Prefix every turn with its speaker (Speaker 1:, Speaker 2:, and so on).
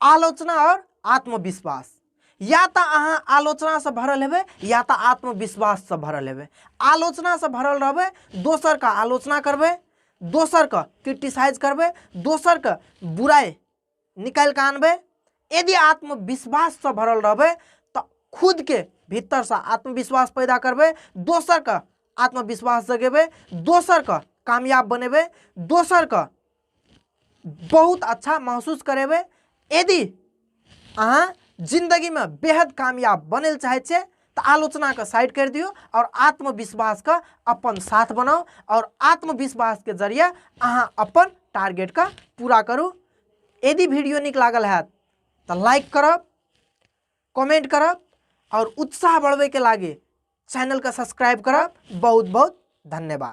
Speaker 1: आलोचना और आत्मविश्वास या तो अहाँ आलोचना से भरल हेबे या तो आत्मविश्वास से भरल हेबे आलोचना से भरल रहबे दोसर का आलोचना करबे दोसर का क्रिटिसाइज करबे दोसर का बुराई निकाल के आनबे यदि आत्मविश्वास से भरल रहबे तो खुद के भीतर से आत्मविश्वास पैदा करबे दोसर का आत्मविश्वास जगेबे दोसर का कामयाब बनेबे दोसर का बहुत अच्छा महसूस करेबै यदि अहाँ जिन्दगीमे बेहद कामयाब बनै लए चाहै छियै तऽ आलोचनाके साइड करि दियौ आओर आत्मविश्वासके अपन साथ बनाउ आओर आत्मविश्वासके जरिए अहाँ अपन टारगेटके पूरा करू यदि वीडियो नीक लागल हैत तऽ लाइक करब कमेंट करब आओर उत्साह बढ़बैके लागे चैनलके सब्सक्राइब करब बहुत बहुत धन्यवाद